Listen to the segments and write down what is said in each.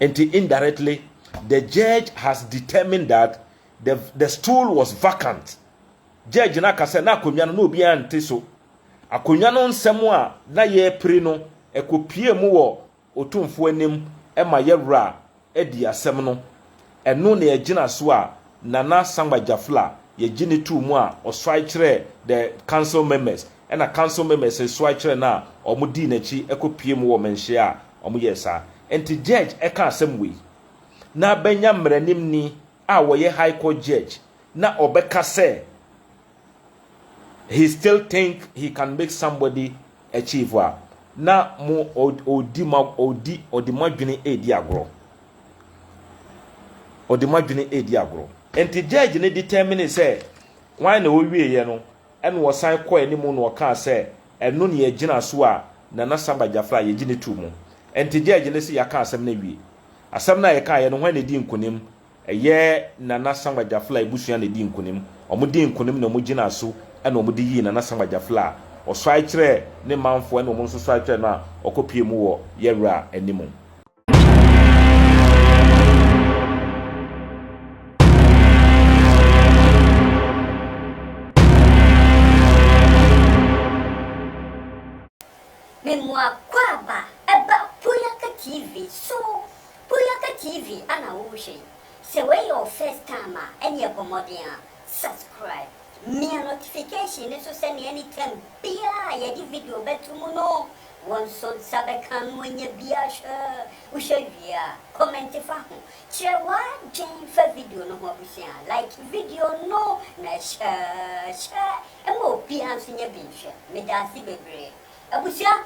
Enti indirectly the judge has determined that the, the stool was vacant. Judge no aka sɛ na akonnwa no na obiara nte so. Akonnwa no nsɛm a na yɛrepere no ɛkɔpie mu wɔ otumfoɔ anim ma yɛwura adi asɛm no. Ɛno na yɛgyina so a Nana Sankba Jafla yɛgye no too mu a ɔsoae kyerɛɛ the council members ɛna council members nso soae kyerɛɛ no a wɔdii n'akyi kɔ pue mu wɔ mɛnhyia a wɔyɛɛ saa nti judge ɛka asɛm wei na bɛnya mmaranimni a wɔyɛ high court judge na ɔbɛka sɛ he still think he can make somebody achieve a na mo ɔdi ma ɔdi ɔde mo adwene edi agorɔ ɔde mo adwene edi agorɔ nti judge ne determine sɛ kwan na ɔwie yɛ no ɛna ɔsan kɔ anim na ɔkaa sɛ ɛno ne yɛgyina so a nana samba jafra yɛgye ne tu mu nti judge ne sɛ yɛaka asɛm no awie asɛm no a yɛkaeɛ no hwan na ɛdi nkonim Ɛyɛ Nana Sankwa Gyafla abusua na ɛdii nkonim. Wɔdii nkonim na wɔgyinaa so na wɔde yii Nana Sankwa Gyafla a ɔsɔre kyerɛɛ ne manfoɔ ɛna wɔn nso sɔre kyerɛɛ no a ɔkɔ pue mu wɔ yɛ wura anim. Memoakwaaba ɛba Poyaka TV so. Boyaka TV ana wohwɛ yi? Sɛ wei yɛ wo first time a ɛneɛ bɔ mmɔden a subscribe, mia notification no so sɛneɛ anytime biaa a yɛde video bɛto mu no wo nso nsa bɛka no anya bi ahwɛ, wohwɛ wie a comment fa ho kyerɛ w'adwen fa video no ho abusua like video no na hyɛ hyɛ ma obiaa nso nya bi nhwɛ, medaase bebree abusua.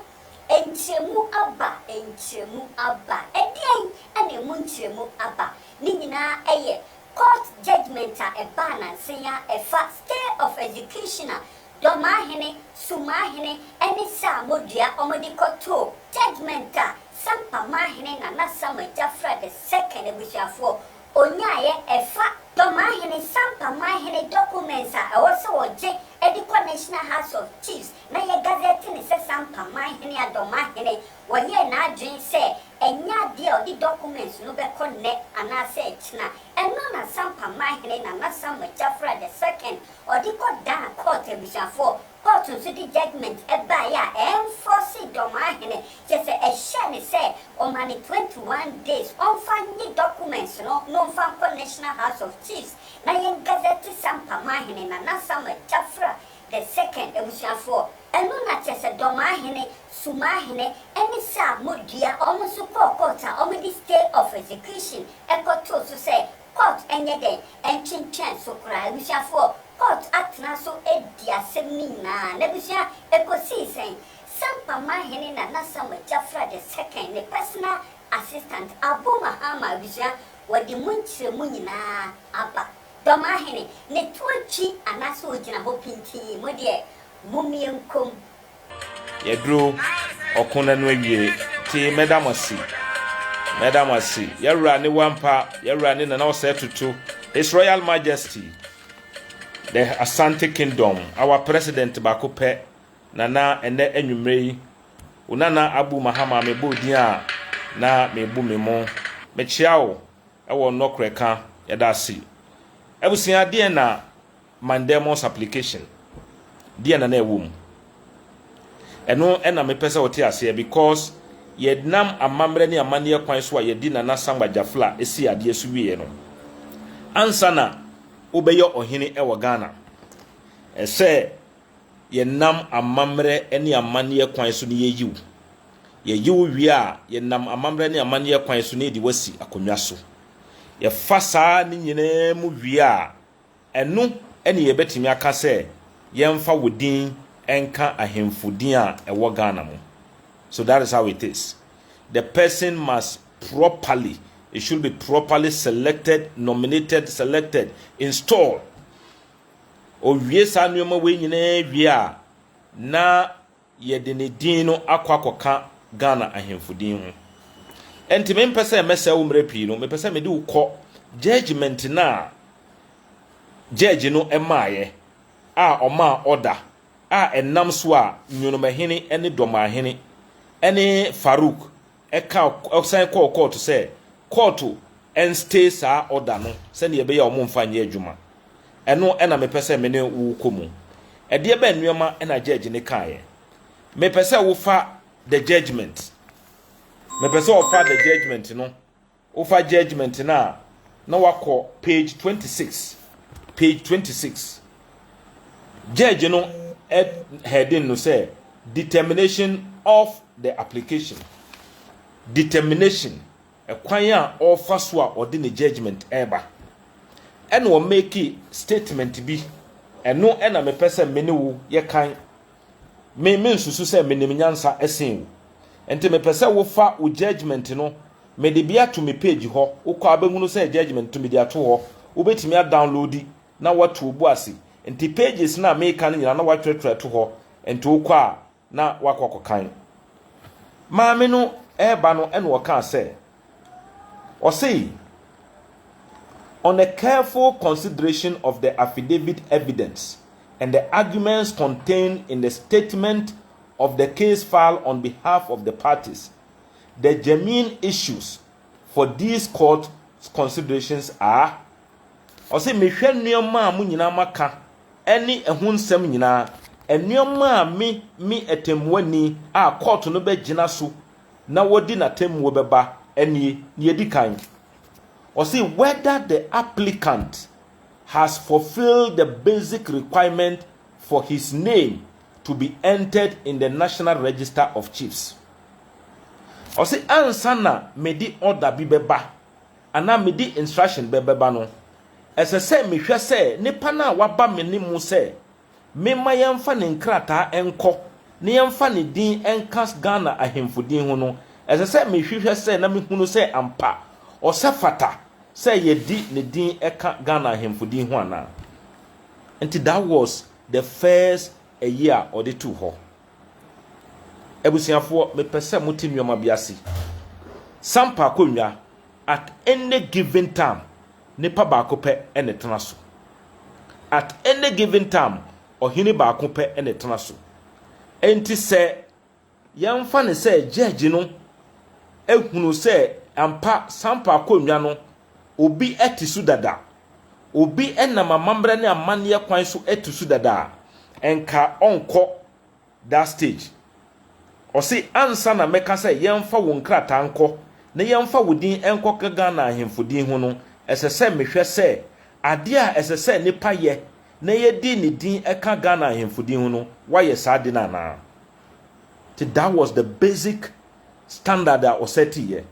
Nkyerɛmu aba, nkyerɛmu aba. Ɛdeɛn na ɛmu nkyerɛmu aba? Ne nyinaa yɛ court judgement a ɛbaa nansa yi ara ɛfa stay of execution a Dɔmahene, Sumahene ɛne Saamodua wɔde kɔtoo judgement a Sampamahene Nana Sam Agyafra the second abusuafoɔ ɔnyaaeɛ ɛfa Dɔmahene Sampamahene documents a ɛwɔ sɛ wɔgye de kɔ National House of Chiefs na yɛ gazɛte ne sɛ Sampa man hene Adomah hene wɔyɛɛ n'adwene sɛ ɛnyɛ adeɛ a ɔde documents no bɛkɔ nnɛ anaasɛ ɛkyena. Ɛno na Sampa man hene Nana Samuel Kyafra the second ɔde kɔ Ghana court abusuafoɔ court nso de judgement baeɛ a ɛnfɔɔse Domah hene kyerɛ sɛ ɛhyɛɛ ne sɛ ɔma no twenty one days ɔmfa nye documents no na ɔmfa nkɔ National House of Chiefs na yɛn gazɛte Sampa man hene Nana Samuel Kyafra The second, abusuafoɔ, ɛno na kyerɛ sɛ Dɔmaahene, Sumaahene, ɛne Saa Modua, wɔn nso kɔɔ court a wɔde stay of execution kɔtoo so sɛ court nyɛ dɛn, ntwentwɛn so koraa. Abusuafoɔ, court atena so adi asɛm no nyinaa. N'abusua, ɛkɔsii sɛn? Sampa Maahene Nana Samuel Gyafra the second, ne personal assistant, Abu Mahama, abusua, wɔde mu nkyerɛmu nyinaa aba. Dɔm ahene, ne to akyi anaasɛ ogyina hɔ pintinn, mo deɛ mommie nkɔm. Yɛduru ɔko nna no awiee tee mɛda mo ase, mɛda mo ase, yɛwura ne wampa, yɛwura ne nana ɔsɛɛ toto, His Royal Majesty the Asante Kingdom, our President baako pɛ, nana ɛnɛ anwummerɛ yi, Onana Abu Mahama mebɔɔ din a na mebu me mo, mekyea wo. Ɛwɔ nɔkorɛ ka yɛda ase. Abusua deɛn na Mandelmus application deɛn na na ɛwɔ mu? Ɛno na mepɛ sɛ wote aseɛ because yɛnam amammerɛ ne amanneɛ kwan so a yɛde Nana Sangba Jafla sii adeɛ so wieɛ no, ansa na wobɛyɛ ɔhene wɔ Ghana, ɛsɛ yɛnam amammerɛ ne amanneɛ kwan so na yɛyi wo. Yɛyi wo wie a, yɛnam amammerɛ ne amanneɛ kwan so na yɛde wo asi akonnwa so. Yɛfa saa ne nyinaa mu wie a, ɛno na yɛbɛtumi aka sɛ yɛmfa wo din nka ahemfo din a ɛwɔ Ghana mu. So that is how it is. The person must properly, it should be properly selected, nominated, selected, installed. Owie saa nneɛma wei nyinaa wie a, na Yɛde ne din no akɔ akɔka Ghana ahemfo din ho. Ɛnti me mpɛ sɛ mɛsɛe wo mmerɛ pii no, mepɛ sɛ mede wo kɔ judgement no a judge no maaeɛ a ɔmaa order a ɛnam so a Nyonomahene ne Dɔmahene ne Farouk ɛka ɔsan kɔɔ kɔɔto sɛ kɔɔto nstay saa order no sɛdeɛ ɛbɛyɛ a wɔmfa nyɛ adwuma. Ɛno na mepɛ sɛ me ne wo kɔ mu. Ɛdeɛ bɛn nnoɔma na judge no kaeɛ? Mepɛ sɛ wofa the judgement. Mepɛ sɛ wɔfa the judgement no Wofa judgement no a na wakɔ page twenty six page twenty six judge no heading no sɛ determination of the application determination ɛkwan a ɔfa so a ɔde ne judgement ɛba ɛna ɔmake statement bi ɛno ɛna mepɛ sɛ me ne wo yɛ kan me me nsusu sɛ menim nyansa ɛsen wo nti mepɛ sɛ wofa wo judgement no Mede bi ato me page hɔ, wokɔ a bɛhunu sɛ judgement nti mede ato hɔ, wobɛtumi a downloadi na woato wo bo ase. Nti pages no a meeka no nyinaa na wɔatwerɛtwerɛ ato hɔ, nti wokɔ a na woakɔ akɔkan. Maame no reba no na ɔkaa sɛ, ɔsei, On a careful consideration of the affidavit evidence and the arguments contained in the statement of the case file on behalf of the parties, the germane issues for these court considerations are, ɔse mehwɛ nnoɔma a mo nyinaa moaka ɛne ɛho nsɛm nyinaa, nnoɔma a me me atɛmmuani a court no bɛgyina so na wɔdi n'atɛmmuo bɛba ɛnie, nea ɛdi kan, ɔse whether the applicant has fulfilled the basic requirement for his name to be entered in the National Register of Chiefs. Ɔse ansa na mede order bi bɛba anaa mede instruction bɛ bɛba no, ɛsɛ sɛ mehwɛ sɛ nnipa no a waba me ne mu sɛ memma yɛmfa ne nkrataa nkɔ na yɛmfa ne din nka Ghana ahemfo din ho no, ɛsɛ sɛ mehwehwɛ sɛ na mehunu sɛ ampa ɔsɛ fata sɛ yɛde ne din ka Ghana ahemfo din ho anaa. Nti that was the first ayi a ɔde too hɔ. Abusuafoɔ me pɛ sɛ mote nnoɔma bi ase. Sampa akonnwa at any given time nipa baako pɛ na ɛtena so. At any given time ɔhene baako pɛ na ɛtena so. Nti sɛ Yɛmfa no sɛ gyɛɛgye no hunu sɛ ampa Sampa akonnwa no obi te so dada, obi nam amammerɛ ne amanneɛ kwan so te so dada a, nka ɔnkɔ that stage. Ɔse ansa na mɛka sɛ yɛmfa wo nkrataa nkɔ na yɛmfa wo din nkɔka Ghana ahemfo din ho no, ɛsɛ sɛ mehwɛ sɛ adeɛ a ɛsɛ sɛ nipa yɛ na yɛde ne din ka Ghana ahemfo din ho no, wayɛ saa ade no anaa. Nti that was the basic standard a ɔsɛtiiɛ.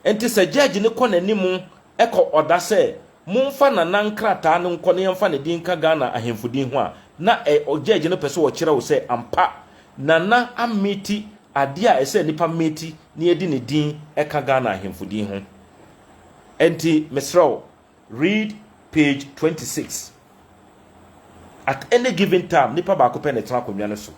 Nti sɛ judge no kɔ n'anim kɔ ɔda sɛ momfa Nana nkrataa no nkɔ na yɛmfa ne din nka Ghana ahemfo din ho a, na ɛ judge no pɛ sɛ ɔkyerɛ wo sɛ ampa Nana ameeti adeɛ a ɛsɛ nipa meeti na yɛde ne din ka Ghana ahemfo din ho. Nti mesrɛ wo. Read page twenty six. At any given time, nipa baako pɛ na ɛtena akonnwa no so.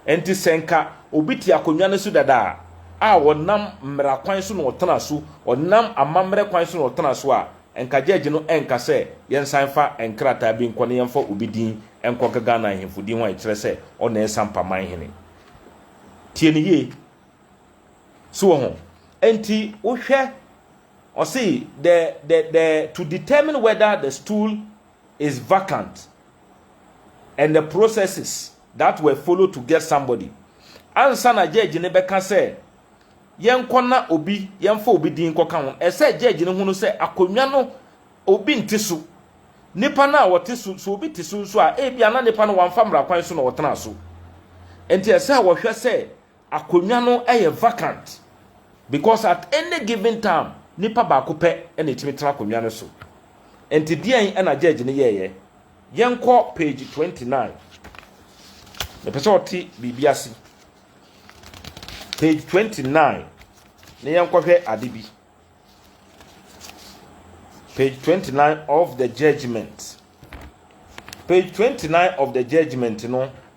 Enti sɛ nka obi te akonnwa no so dada a, a ɔnam mmara kwan so na ɔtena so, ɔnam amammerɛ kwan so na ɔtena so a, nka gyɛɛgye no renka sɛ yɛnsan mfa nkrataa bi nkɔ na yɛmfa obi din nkɔka Ghana ahemfo din ho a ɛkyerɛ sɛ ɔna yɛ Sampa man hene. Tie no yie. So wɔ ho? Enti wohwɛ. Ɔse the the the to determine whether the stool is vacant and the processes that were followed to get somebody ansa na judge no bɛka sɛ yɛnkɔ na obi yɛmfa obi din nkɔka ho ɛsɛ judge no hunu sɛ akonnwa no obi nte so nipa no a ɔte so so obi te so nso a ebi ana nipa no wamfa mmara kwan so na ɔtena so nti ɛsɛ a wɔhwɛ sɛ Akonnwa no yɛ vacant because at any given time nipa baako pɛ na etumi tena akonnwa no so. Nti deɛn na judge no yɛeɛ? Yɛnkɔ page twenty nine. Mepɛ sɛ ɔte biribi ase. Page twenty nine na yɛnkɔhwɛ ade bi. Page twenty nine of the judgement. Page twenty nine of the judgement no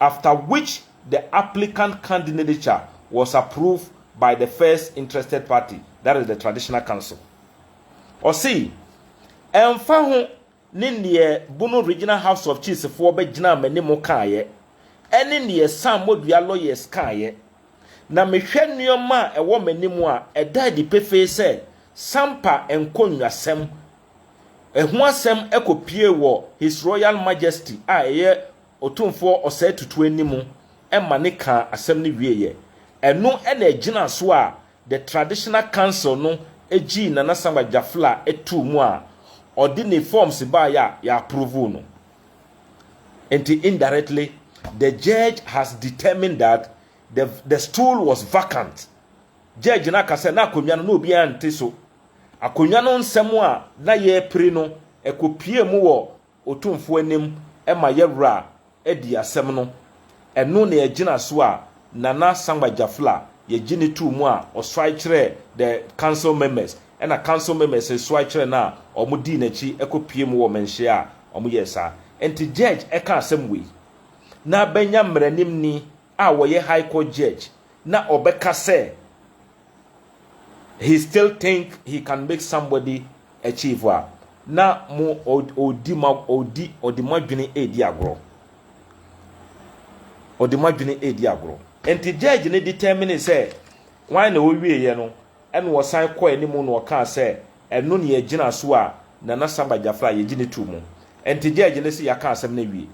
after which the applicant candinadeture was approved by the first interested party that is the traditional council. Ɔse, ɛmfa ho ne neɛ Bono Regional House of Chiefs foɔ bɛgyinaa m'anim kaeɛ, ɛne neɛ Sam Modua lawyers kaeɛ, na mehwɛ nnoɔma a ɛwɔ m'anim a, ɛda adi pefee sɛ Sampa nkonnwasɛm ho asɛm kɔpue wɔ His Royal Majesty a ɛyɛ Otumfoɔ Osei Tutu anim ma ne kaa asɛm no wieeɛ. Ɛno na ɛgyinaa so a The Traditional Council no gyii Nana Samuel Gyafla too mu a ɔde ne forms baeɛ a yɛapprovoo no. Enti indirectly the judge has determined that the the stool was vacant. Judge no aka sɛ na akonnwa no na obiara nte so. Akonnwa no nsɛm a na yɛrepere no, ɛkɔpuee mu wɔ Otumfoɔ anim ma yɛ wura adi asɛm no ɛno na yɛgyina so a Nana Sangba Jafla yɛgye ne too mu a ɔsoae kyerɛɛ the council members ɛna council members resoae kyerɛ no a ɔmo dii n'akyi kɔ pue mu wɔ mɛnhyia a ɔmo yɛɛ saa nti judge ɛka asɛm wei na bɛnya mmaranim ni a wɔyɛ high court judge na ɔbɛka sɛ he still think he can make somebody achieve a na mo ɔdi ma ɔdi ɔde mo adwene redi agorɔ ɔde mo adwene redi agorɔ nti judge no determine sɛ wɔn na wɔwie yɛ no ɛna wɔsan kɔ anim na wɔkaa sɛ ɛno ne yɛgyina so a nana samba gyafra yɛgye ne tu mu nti judge no sɛ yɛaka asɛm no awie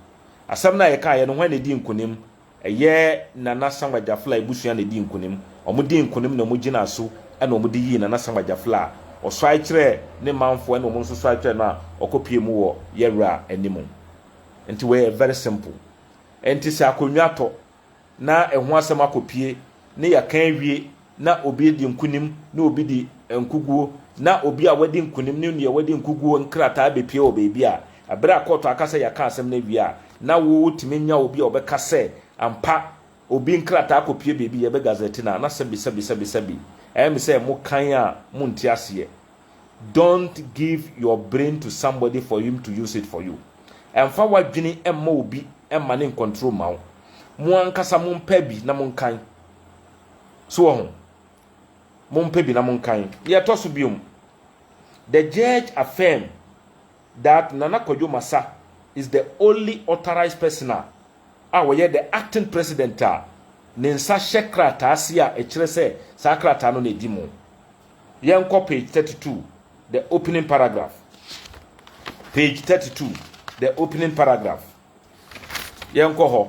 asɛm no a yɛkaeɛ no wɔn na ɛdi nkonim Ɛyɛ Nana Sankwa Gyafla abusua na ɛdii nkunim. Wɔdii nkunim na wɔgyinaa so na wɔde yii Nana Sankwa Gyafla a ɔsɔre kyerɛɛ ne manfoɔ ɛna wɔn nso sɔre kyerɛɛ no a ɔkɔ pue mu wɔ yɛ wura anim. Nti wei yɛ very simple. Nti sɛ akonnwa tɔ na ɛho asɛm akɔ pue ne yɛka awie na obi adi nkonim ne obi di nkoguo, na obi a wadi nkonim ne nea wadi nkoguo nkrataa bɛpue wɔ baabi a, ɛberɛ a kɔɔto aka sɛ yɛaka asɛm no awie a, na wotumi nya obi a ɔbɛka sɛ ampa obi nkrataa kɔpue baabi, yɛbɛ gazette no a, na sɛbi sɛbi sɛbi sɛbi. Ɛyɛ me sɛ mo kan a monte aseɛ. Don't give your brain to somebody for him to use it for you. Ɛmfa w'adwene mma obi mma ne nkɔntro mma wo. Mo ankasa mompɛ bi na monkan. So wɔ ho? Mompɛ bi na monkan. Deɛ ɛtɔ so biom, the judge affirm that Nana Kwadwo Masa is the only authorized person a a ɔyɛ the acting president a ne nsa hyɛ krataa ase a ɛkyerɛ sɛ saa krataa no na ɛdi mu. Yɛnkɔ page 32, the opening paragraph. Page 32, the opening paragraph. Yɛnkɔ hɔ.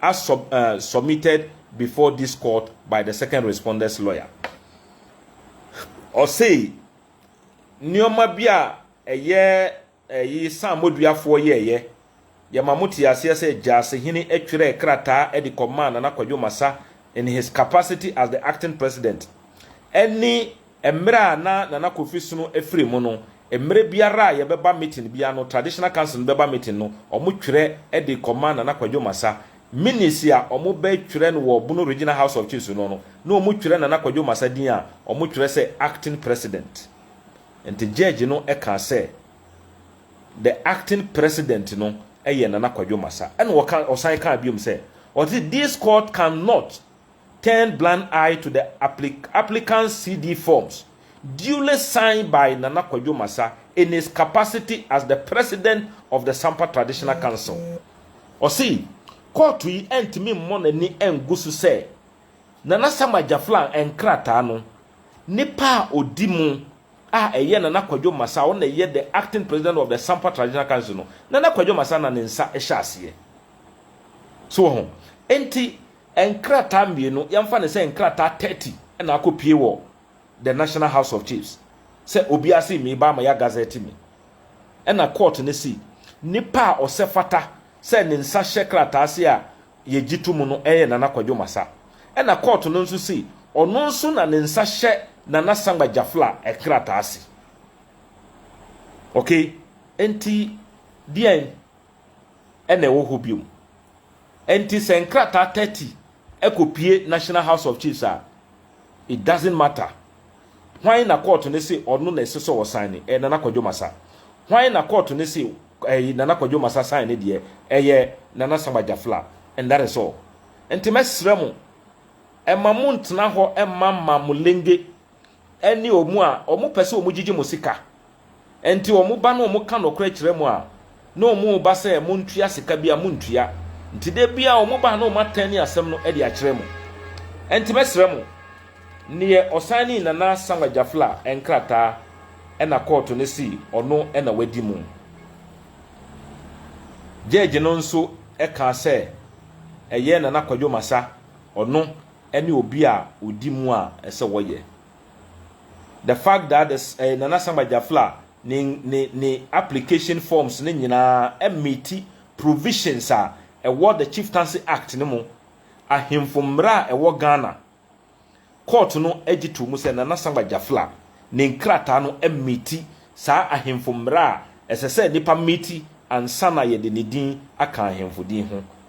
as sub, uh, submitted before this court by the second responder's lawyer. Ɔsei, nneɛma bi a ɛyɛ ɛyi san moduafoɔ yɛɛyɛ, yɛma mo te aseɛ sɛ Gyasehene atwerɛ krataa de kɔmaa Nana Kwadwo Masa in his capacity as the acting president ɛne Mmerɛ a na Nana Kofi Sono afiri mu no, mmerɛ biara a yɛbɛba meeting biara no, Traditional Council no bɛba meeting no, wɔtwerɛ de kɔma Nana Kwadwo Masa. Minutes a wɔbɛtwerɛ no wɔ Bono Regional House of Chiefs no no, na wɔtwerɛ Nana Kwadwo Masa din a, wɔtwerɛ sɛ Acting President. Nti Judge no kaa sɛ, The Acting President no yɛ Nana Kwadwo Masa. Ɛna ɔka, ɔsan kaa biom sɛ, ɔse, This Court cannot. turned blind eye to the applicant's CD forms duly signed by Nana Kwadwo Masa in his capacity as the President of the Sampa Traditional Council. Ɔse kɔɔto yi antumi mmɔ n'ani angu so sɛ Nana Sam Agyaflang nkrataa no nipa a odi mu a ɛyɛ Nana Kwadwo Masa a ɔno na ɛyɛ the Acting President of the Sampa Traditional Council no, Nana Kwadwo Masa na ne nsa hyɛ aseɛ. So wɔ ho? Enti Nkrataa mmienu, yɛmfa no sɛ nkrataa thirty na akɔpue wɔ the National House of Chiefs sɛ obiara se me ba ama yɛagazɛte me. Ɛna court no se nipa a ɔsɛ fata sɛ ne nsa hyɛ krataa ase a yɛgye to mu no yɛ Nana Kwadwo Masa. Ɛna court no nso se ɔno nso na ne nsa hyɛ Nana Sangba Jafla nkrataa ase. Okay, enti deɛn? na ɛwɔ hɔ bio. Enti sɛ nkrataa thirty kɔpue National House of Chiefs a, it doesn't matter. Hwan na kɔɔto no se ɔno na ɛsɛ sɛ ɔsaene? Ɛyɛ Nana Kwadwo Masa. Hwan na kɔɔto no se ɛyi Nana Kwadwo Masa saene deɛ? Ɛyɛ Nana Sam Agyafla. And that is all. Enti mɛsrɛ mo, ɛma montena hɔ mma mma mo lenge. ɛne wɔn a wɔpɛ sɛ wɔgyigye mo sika. Enti wɔba na wɔka nokorɛ kyerɛ mo a, na wɔreba sɛ montua sika bi a montua. Enti da biara wɔba a na wɔatɛne asɛm no de akyerɛ mo. Enti mɛsrɛ mo, neɛ ɔsanee Nana Samuel Gyafla nkrataa na kɔɔto no se ɔno na wadi mo. Gyɛɛgye no nso kaa sɛ ɛyɛ Nana Kwadwo Masa, ɔno ɛne obi a odi mu a ɛsɛ wɔyɛ the fact that the ɛyɛ Nana Sam Agyafla ne ne ne application forms ne nyinaa ɛmeti provisions a ɛwɔ the Chieftaincy Act no mu ahemfo mmara a ɛwɔ Ghana court no agye to mu sɛ Nana Sam Agyafla ne nkrataa no ɛmeti saa ahemfo mmara a ɛsɛ sɛ nipa meti ansa na yɛde ne din aka ahemfo din ho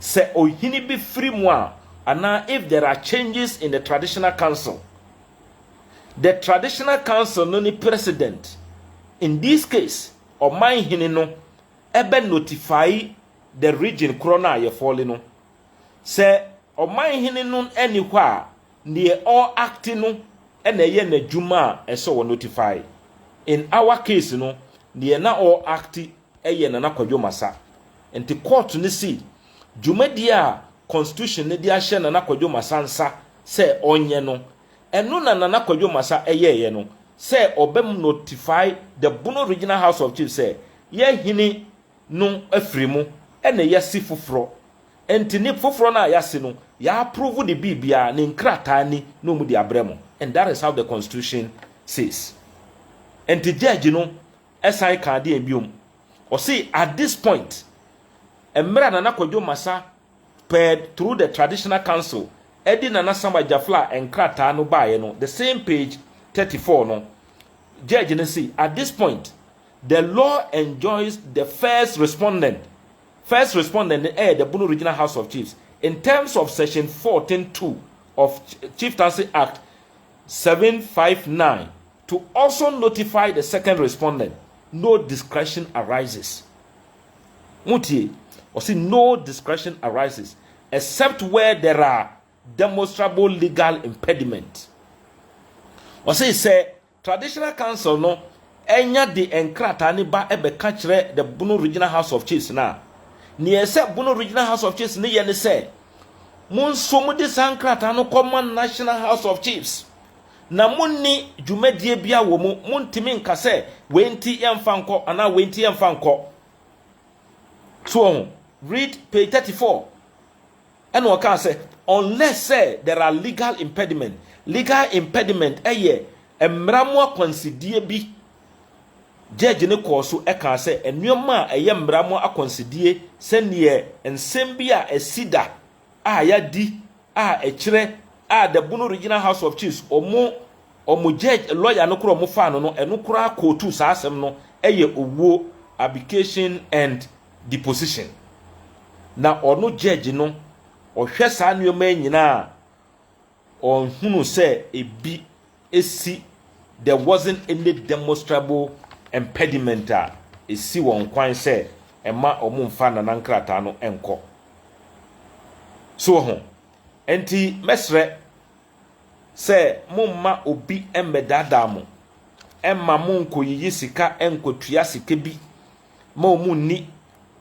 sɛ ɔhene bi firi mu a, anaa if there are changes in the traditional council. The traditional council no ne president. In this case, ɔman hene no ɛbɛ notify the region korɔ no a yɛfɔle no. Sɛ ɔman hene no ɛni hɔ a, neɛ ɔ acti no ɛna ɛyɛ n'adwuma a ɛsɛ ɔ notify. In our case no, neɛ na ɔ acti yɛ Nana Kwadwo Masa. Nti kɔɔto no sii dwumadie a Constitution no de ahyɛ Nana Kwadwo Masa nsa sɛ ɔnyɛ no, ɛno na Nana Kwadwo Masa yɛeɛ no sɛ ɔbɛ notify the Bono Regional House of Chiefs sɛ yɛ hene no afiri mu na yɛasi foforɔ. Nti ne foforɔ no a yɛasi no, yɛ approve de biribiara, ne nkrataa ni na wɔde abrɛ mo and that is how the Constitution says. Nti judge no Ɛsan kaa deɛn bio? Ɔse at this point, mmerɛ a Nana Kwadwo Masa pɛɛ through the Traditional Council de Nana Sam Agyafla nkrataa no baeɛ no, the same page thirty four no, Judge no se at this point, the law enjoins the first respondent, first respondent no yɛ the Bono Regional House of Chiefs, in terms of section fourteen two of Chieftaincy Act seven five nine To also notify the second respondent, no discretion arises. Motie, ɔse no discretion arises except where there are demonstrable legal impediment. Ɔse sɛ Traditional Council no anya de nkrataa ne ba bɛka kyerɛ the Bono Regional House of Chiefs no a, nea ɛsɛ Bono Regional House of Chiefs no yɛ ne sɛ Mo nso mode saa nkrataa no kɔma National House of Chiefs, na monni dwumadie biara wɔ mu. Montumi nka sɛ wei nti yɛmfa nkɔ anaa wei nti yɛmfa nkɔ. So wɔho? Read page thirty four. Ɛna ɔkaa sɛ, unless sɛ there are legal impediment. Legal impediment yɛ mmara mu akwansideɛ bi Gyɛɛgye no kɔɔ so kaa sɛ nneɛma a ɛyɛ mmara mu akwansideɛ sɛdeɛ nsɛm bi a asi da a yɛadi a ɛkyerɛ a the Bono Regional House of Chiefs wɔn wɔn gyɛɛgye lɔya no koraa wɔn faa no no ɛno koraa kootu saa asɛm no yɛ owuo abdication and deposition na ɔno gyɛɛgye no ɔhwɛ saa nneɛma yi nyinaa a Ɔnhunu sɛ ebi si there wasn't any demonstrable impediment a esi wɔn kwan sɛ ɛma wɔmfa Nana nkrataa no nkɔ. So woahu? Enti mɛsrɛ sɛ momma obi mmɛdaadaa mo mma monkɔyiyi sika nkɔtua sika bi ma wɔn nni,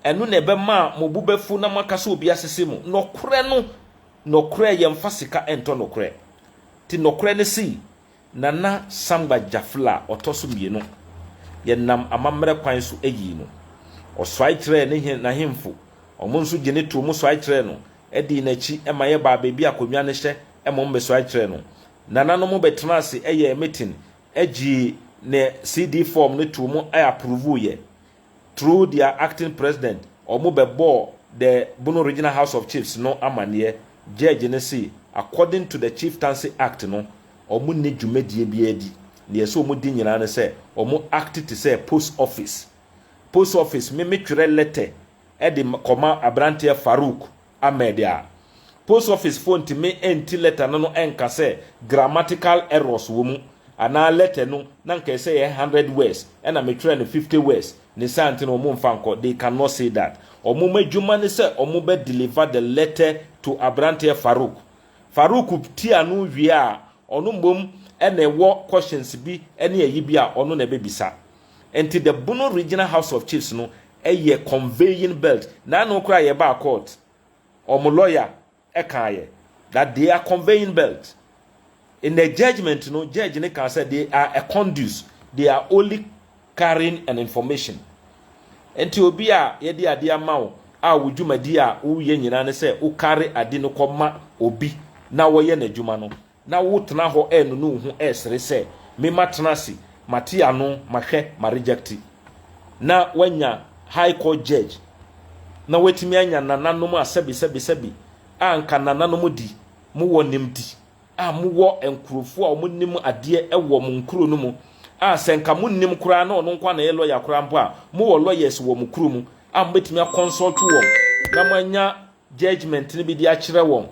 ɛno na ɛbɛma mo bo bɛfu na moaka sɛ obi asese mo. Nokorɛ no, Nɔkorɛ yɛnfa sika ntɔ nɔkorɛ ti nɔkorɛ ne sei Nana Sangba Jafla ɔtɔ so mmienu yɛnam amammerɛ kwan so yii no ɔsuae kyerɛɛ ne he n'ahemfo ɔmo nso gye ne too mo suae kyerɛɛ no dii n'akyi ma yɛbaa baabi akonnwa no hyɛ mmom mesuae kyerɛɛ no nananom bɛtenaa ase yɛɛ meeting gyee ne CD form no too mo approvuuiɛ Through their acting president, wɔn bɛ bɔɔ the Bono Regional House of Chiefs no amaneɛ, Judge no se according to the Chieftancy Act no, wɔn nni dwumadie biara di, deɛ ɛsɛ wɔn di nyinaa ne sɛ wɔn act te sɛ post office. Post office, me me twerɛ letter de kɔma abranteɛ Farouk Ahmed a, post office foɔ ntumi nti letter no no nka sɛ grammatical errors wɔ mu anaa letter no na nka ɛsɛ yɛ hundred words ɛna me twerɛ no fifty words ne saa nti no wɔn nfa nkɔ they can not say that wɔn adwuma ne sɛ wɔn bɛ deliver the letter to abranteɛ Farouk Farouk ti ano wie a ɔno mmom ɛna ɛwɔ questions bi ɛne ayi bi a ɔno na ɛbɛ bisa nti the Bono regional house of chiefs no Ɛyɛ conveying belt naano koraa yɛbaa court wɔn lawyer kaayɛ that they are conveying belt in the judgement no judge no kaa sɛ they are a conduce they are only carrying an information nti obi a yɛde ade ama wo a wo dwumadi a woyɛ nyinaa ne sɛ wo carry ade no kɔ ma obi na wɔyɛ n'adwuma no Na wo tena hɔ ɛɛnono wo ho ɛɛsere sɛ, Me ma tena ase, ma te ano, ma hwɛ, ma rejecte. Na wanya high court judge, na watumi anya nananom a sɛbi sɛbi sɛbi a anka nananom di, mo wɔ nimdi a mo wɔ nkurofo a ɔmo nim adeɛ ɛwɔ mo nkuro no mu a sɛ nka mo nnim koraa na ɔno nkoa na ɛyɛ lawyer koraa mpo a mo wɔ lawyers wɔ mo kuro mu a mo bɛtumi a consult wɔn na mo anya judgement no bi de akyerɛ wɔn.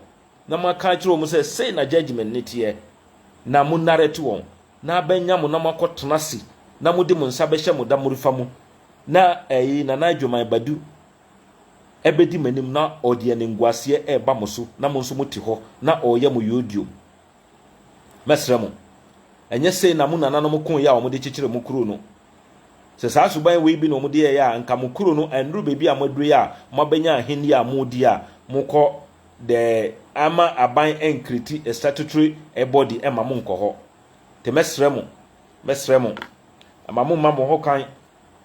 Na moaka akyerɛ wɔn sɛ, 'Sei na judgement no teɛ, na monarɛte wɔn, na abɛnya mo na moakɔtena ase, na mode mo nsa bɛhyɛ mo damorefa mu, na ɛyi Nana Adwoman Badu bɛdi m'anim na ɔde animguaseɛ reba mo so na mo nso mote hɔ na ɔreyɛ mo yodiom. Mɛsrɛ mo, ɛnyɛ sei na mo nananom koeɛ a wɔde kyekyeree mo kuro no? Sɛ saa suban wei bi na wɔde yɛeɛ a, anka mo kuro no annuru baabi a moaduru yi a moabɛnya ahennie a moredi a mokɔ dɛ ama aban enkriti statutory body mma mo nnkɔ hɔ. Ntsi mɛserɛ mo, mɛserɛ mo, mma mo mma mo ho kwan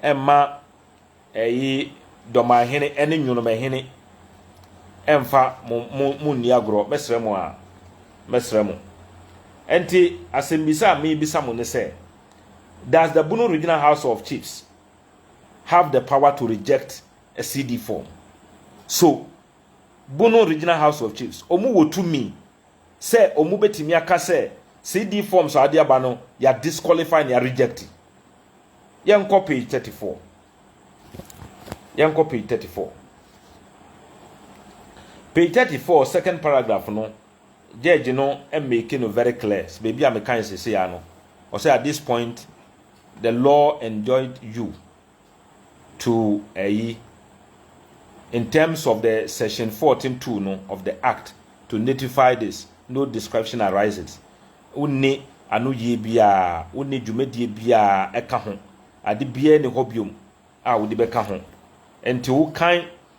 mma ɛyi dɔmahene ne nwonomahene mfa mo mo mo nni agorɔ. Mɛserɛ mo aa, mɛserɛ mo. Ntsi asɛmbisa a meebisa mo ne sɛ, Does the Bono Regional House of Chiefs have the power to reject a CD form? So Bono Regional House of Chiefs, wɔn wɔ tumi sɛ wɔn bɛtumi aka sɛ CD forms a wɔde aba no yɛ disqualify no yɛ reject. Yɛnkɔ page thirty four. Yɛnkɔ page thirty four. Page thirty four second paragraph no, judge no make no very clear. Baabi a meka nsese ya no, ɔsɛ at this point the law enjoined you. to ayi in terms of the section fourteen two no of the act to notify this no description arises wonni anoyie biara wonni dwumadie biara ɛka ho ade biara ni hɔ biom a wode bɛka ho nti wokan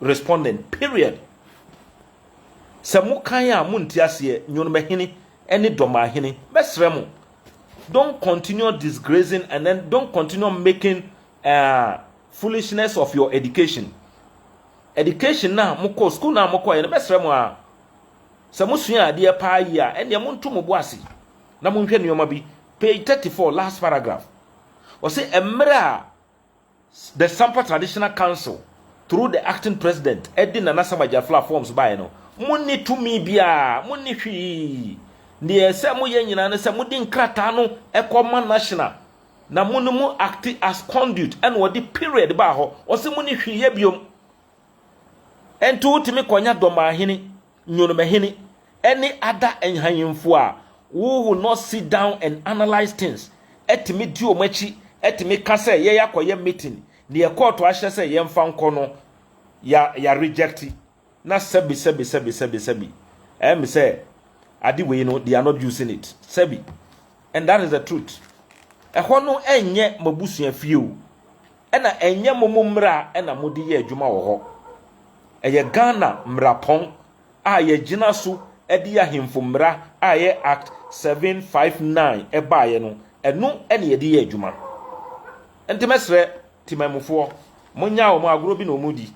respondent period sɛ mo kan a mo nte aseɛ nyonomahini ɛne dɔmahini mɛsrɛ mo don't continue disgracing and then don't continue making uh, foolishness of your education education na mokɔ school na mokɔ yɛ no mɛsrɛ mo a sɛ mosua adeɛ paa yi a ɛnneɛ monto mo bo ase na monhwɛ nneɛma bi page 34 last paragraph ɔse mmerɛ a The Sampa Traditional Council through the acting president de Nana Sam Agyaflo a forms baeɛ no, monni tumi biara, monni hwee. Deɛ ɛsɛ moyɛ nyinaa ne sɛ mode nkrataa no kɔ ma National na mo no mo acte as conduit ɛna ɔde period baa hɔ. Ɔse monni hwee yɛ biom. Ɛnti wotumi kɔnya Dɔmaahene Nyonomahene ne ada nhanyemfo a wo will not sit down and analyse things tumi di wɔn akyi tumi ka sɛ yɛyɛ akɔyɛ meeting deɛ kɔɔto ahyɛ sɛ yɛmfa nkɔ no ya ya reject na sɛbi sɛbi sɛbi sɛbi sɛbi ɛyɛ me sɛ ade wei no they are not using it sɛbi. and that is the truth ɛhɔ no ɛnyɛ mabusua fie o ɛna ɛnyɛ momo mmra ɛna mode yɛ adwuma wɔ hɔ ɛyɛ Ghana mmerapɔn a yɛgyina so ɛde ahemfo mmra a ɛyɛ act 759 ɛbaeɛ no ɛno ɛna yɛde yɛ adwuma nti mɛsrɛ timamufoɔ monyaa wɔn agorɔ bi na wɔn di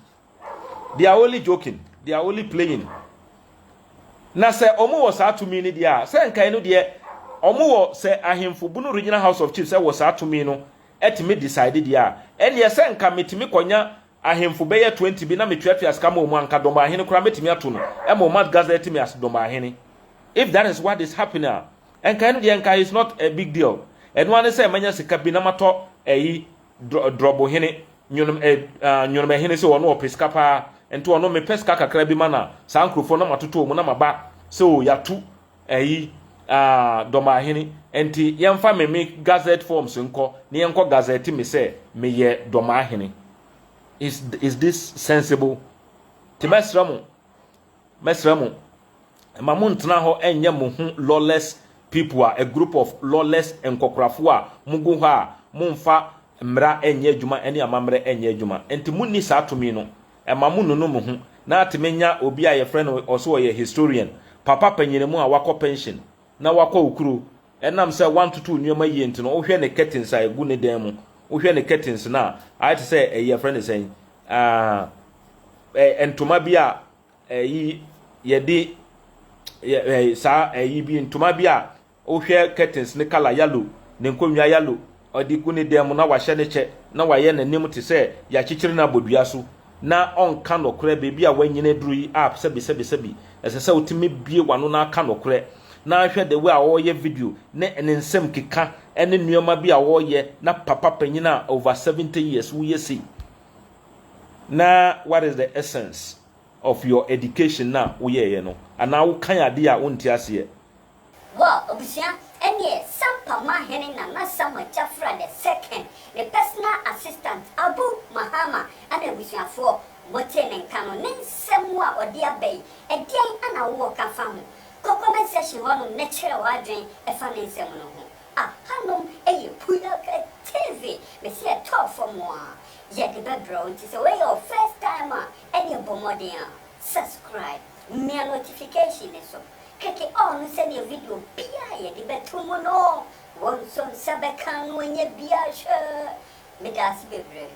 they are only joking they are only playing na sɛ ɔmo wɔ saa tumi no deɛ a sɛ nkae no deɛ ɔmo wɔ sɛ ahemfo bunu regional house of chiefs wɔ saa tumi no ɛtumi decide deɛ a ɛneɛ sɛ nka metumi kɔnya ahemfo bɛyɛ 20 bi na metuatua sika ma ɔmo anka dɔmbɔ ahene koraa mɛtumi ato no ɛma ɔmo gazette me as dɔmbɔ ahene if that is what is happening a nkae no deɛ nkae is not a big deal ɛno ara ne sɛ manya sika bi na matɔ ɛyi Drɔbohene, Nyonom eh, ah, Nyonomahene sɛ ɔno ɔpɛ sika paa, nti ɔno mepɛ sika kakra bi ma na saa nkurɔfoɔ na matotɔ mu na maba sɛ o yɛato ayi ah, Dɔmahene, nti yɛmfa me me gazette forms nkɔ na yɛnkɔ gazette me sɛ meyɛ Dɔmahene. Is, is this sensible? Nti mɛsrɛ mo, Mɛsrɛ mo, mma monntena hɔ nnyɛ mo ho lawless people a a group of lawless nkɔkorafo a mogu hɔ a mommfa mmara nnyɛ adwuma ne amammerɛ nnyɛ adwuma nti monni saa tumi no. Mma monnunu mo ho na atumi nya obi a yɛfrɛ no ɔse ɔyɛ historian, papa panyini mu a wakɔ pension na wakɔ okuro, Ɛnam sɛ wantoto nneɛma yie nti no, wohwɛ ne curtains a ɛgu ne dan mu, wohwɛ ne curtains no a, ayɛ te sɛ ɛyi yɛfrɛ no sɛn, ɛɛ ntoma bi a ɛyi yɛde yɛ ɛɛ saa ɛyi bi ntoma bi a wohwɛ curtains ne colour yellow, ne nkonnwa yellow. Ɔde gu ne dan mu na wahyɛ ne kyɛ na wayɛ n'anim te sɛ yɛakyekyere no abɔ dua so na ɔnka nokorɛ, baabi a wanyini aduru yi app sɛbisɛbisɛbi, ɛsɛ sɛ wotumi bue w'ano na aka nokorɛ. Na hwɛ the way a ɔreyɛ video ne ne nsɛm keka ne nnoɔma bi a ɔreyɛ na papa panyin a over 70 years woyɛ sei na what is the essence of your education na woyɛeɛ no anaa wokan adeɛ a wonte aseɛ. Wɔ abusua ɛneɛ Sampa Mahene Nana Samuel Kyafra the second ne personal assistant Abu Mahama ɛna abusuafoɔ motee ne nka no ne nsɛm a ɔde aba yi ɛdeɛn ɛna wowɔ ka fa ho? Kɔ comment section hɔ nom na kyerɛ w'adwen ɛfa ne nsɛm no ho. Aha nom ɛyɛ Puyaka TV mese ɛtɔɔ fam a yɛde bɛbrɛ wo nti sɛ wei yɛ wo first time a ɛneɛ bɔ mmɔden a subscribe mia notification no so. kɛkɛ a ɔno sɛdeɛ video biara a yɛde bɛto mu no wɔ nso nsa bɛka no ɔnyɛ biara hwɛ medaase bebree.